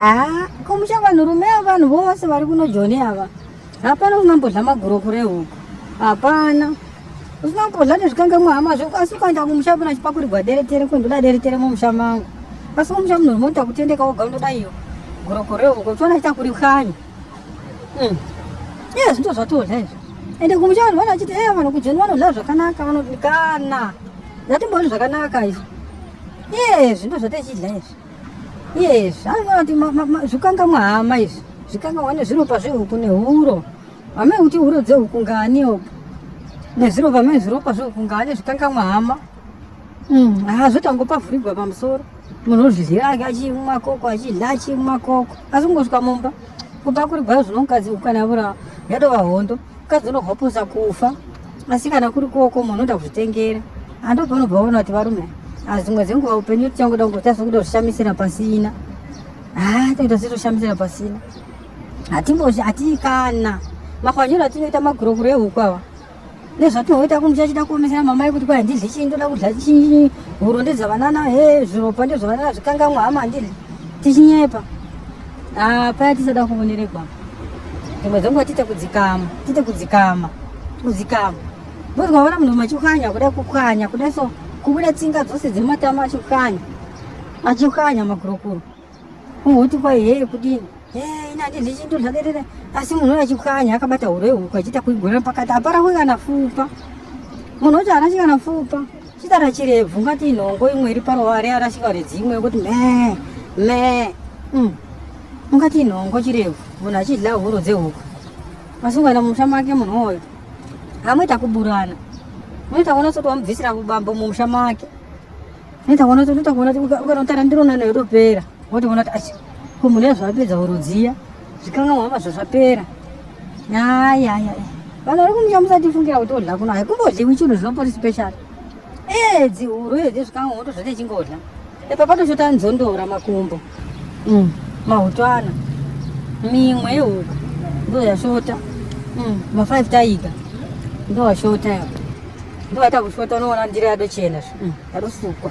haa ko muchava nhurume yavanhu vose vari kuno joni ava hapana usina mbodla magurokure ehuku hapana usina mbodla nezvikangamwa hama zveku asi ukaenda kumusha pona chipakurigwa deretere ko ndoda deretere mumusha mangu asi kumusha munhurume unoita kutendeka woga unoda iyo gurokure ehuku uchiona chita kuri khanyi hmm. iye zvinto zvatodla izvo ende kumusha vanhu vana vachiti eya vanhu kujoni vanodla zvakanaka vanodikana zvatimbooni zvakanaka izvo iye zvinto zvatechidla izvi Yes, anoti zvikangamwa hama izvi. Zvikangamwa nezviropa zvehuku nehuro. Hame kuti huro dzehuku ngani opo. Nezviropa hame zviropa zvehuku ngani zvikangamwa hama. Mm, ah zvotangopa vhurigwa pamusoro. Munhu ozvidhira ake achimwa koko achidya achimwa koko. Asi kungosvika mumba kupakurirwa zvinongazi huku kana vura yadova hondo. mukadzi unohoposa kufa asi kana kuri koko munhu unoda kuzvitengera ando panobva waona kuti varume azvimwe dzenguva upenyu tichangoda kunge tazokuda kushamisira pasina haa toita setoshamisira pasina hatimbozi hatii kana makwanyiro atinoita magurokuro ehuku ava nezvatinoita kumusha chida kuomesera mamai kuti kwai handidli chii ndoda kudla chii huro ndedzavanana he zviropa ndezvavanana zvikangamwa hama handidli tichinyepa Ah, paya tisada kuvoneregwa dzimwe dzenguva tiite kudzikama tiite kudzikama kudzikama bozwaona munhu machikanya kuda kukanya kuda so kubuda tsinga dzose dzematama achikanya achikanya magurokuro umhoti kwai hee kudini inandi ndichinto zvakerere asi munhu achikanya akabata hure huku achiita kuigona pakati hapara kuikana fupa munhu wacho haana chikana fupa Chitara chirebvu ngati inhongo imwe iri paruware arashika redzimwe kuti me me mm. ungati inhongo chirebvu munhu achidya huro dzehuku asi ukaenda mumusha make munhu woyo hamoita kuburana unoita kuona soti wamubvisira bambo mumusha make unoita kuona unoita kuona ukanotara ndironano yotopera wotoona kuti asi ko munhu yazvapedza huro dziya zvikangamwa hama zvazvapera ayaya vanhu vari kumusha musatifungira kuti odla kuno haikumbodliwi chinhu zvinopori special ee dzihuru iyo dzezvikangamwa moto zvati chingodla epa patoshota nzondora makumbo mm. mahutwana mimwe yehuku ndo yashota mm. mafive taiga ndo yashota yako ndo yaita kushota unoona ndira yadochena zve mm. yadosukwa